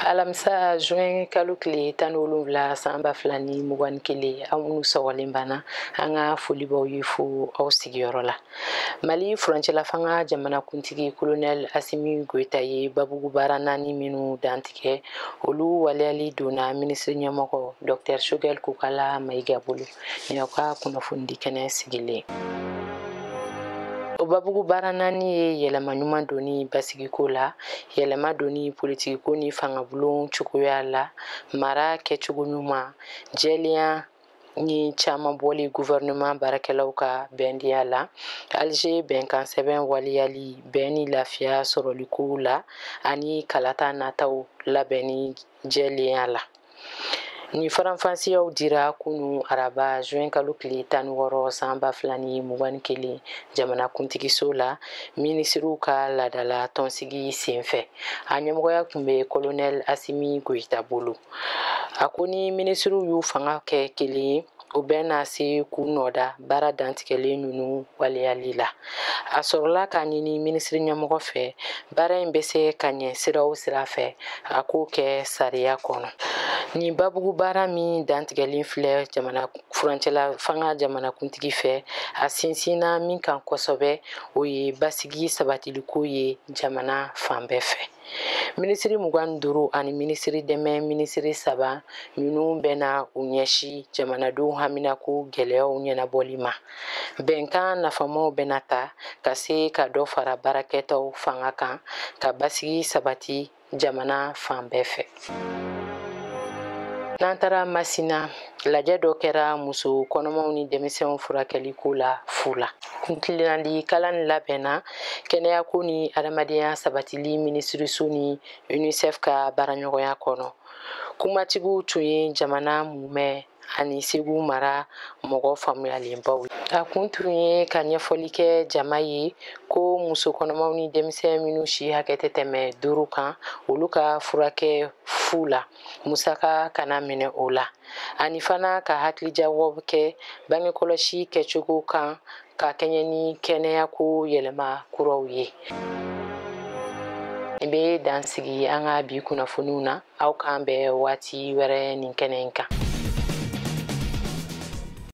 alamisa juin kalo tile tan ni wolonwula san ba fila ni mugan ni kelen aw minnu sɔgɔlen b'an na an ka foli b'aw ye fo aw sigiyɔrɔ la mali furancɛlafanga jamanakuntigi kolonɛl asimi goyita ye babugu baara naani minnu dantigɛ olu waleyali donna minisiri ɲɛmɔgɔ dɔktɛr sogɛl kokala mayiga bolo Nin y'aw ka kunnafoni di kɛnɛ sigilen o babugu baara naani ye yɛlɛma ɲuman donni basigiko la yɛlɛma donni politikiko ni fangabulon cogoya la mara kɛcogo ɲuman jɛlenya ni caman bɔli gouvernement baarakɛlaw ka bɛndenya la alger bɛnkan sɛbɛn waliyali bɛn ni lafiya sɔrɔliko la ani kalata nataw labɛnni jɛlenya la Nin faranfasiyaw dira kunun araba juin kalo tile tan ni wɔɔrɔ san ba fila ni mugan ni kelen jamanakuntigiso la minisiriw ka laadala tɔnsigi senfɛ a ɲɛmɔgɔya tun bɛ kolonɛli asimi goyita bolo a ko ni minisiriw y'u fanga kɛ kelen ye u bɛna se k'u nɔ da baara dantigɛlen ninnu waleyali la a sɔrɔla k'a ɲini minisiri ɲɛmɔgɔ fɛ baara in bɛ se ka ɲɛ sira o sira fɛ a k'o kɛ sariya kɔnɔ nin babugu baara min dantigɛlen filɛ jamana furancɛla fanga jamanakuntigi fɛ a sinsinna min kan kosɛbɛ o ye basigi sabatiliko ye jamana fan bɛɛ fɛ minisiri mugan ni duuru ani minisiri dɛmɛ minisiri saba ninnu bɛna u ɲɛsi jamanadenw haminako gɛlɛyaw ɲɛnabɔli ma bɛnkan nafamaw bɛna ta ka se ka dɔ fara baarakɛtaw fanga kan ka basigi sabati jamana fan bɛɛ fɛ n'an taara masina lajɛ dɔ kɛra muso kɔnɔmaw ni denmisɛnw furakɛli ko la fu la kuntilennadi kalan in labɛnna kɛnɛyako ni adamadenya sabatili minisiriso ni unicef ka baaraɲɔgɔnya kɔnɔ kumatigiw tun ye jamana mumɛ ani segu mara mɔgɔ faamuyalenbaw ye a kun tun ye ka ɲɛfɔli kɛ jama ye ko muso kɔnɔmaw ni denmisɛn minnu si hakɛ tɛ tɛmɛ duuru kan olu ka furakɛ fu la musaka kana minɛ o la ani fana ka hakilijagabɔ kɛ bangekɔlɔsi kɛcogo kan ka kɛɲɛ ni kɛnɛyako yɛlɛma kuraw ye n bɛ dan sigi an ka bi kunnafoniw na aw k'an bɛn waati wɛrɛ nin kɛnɛ in kan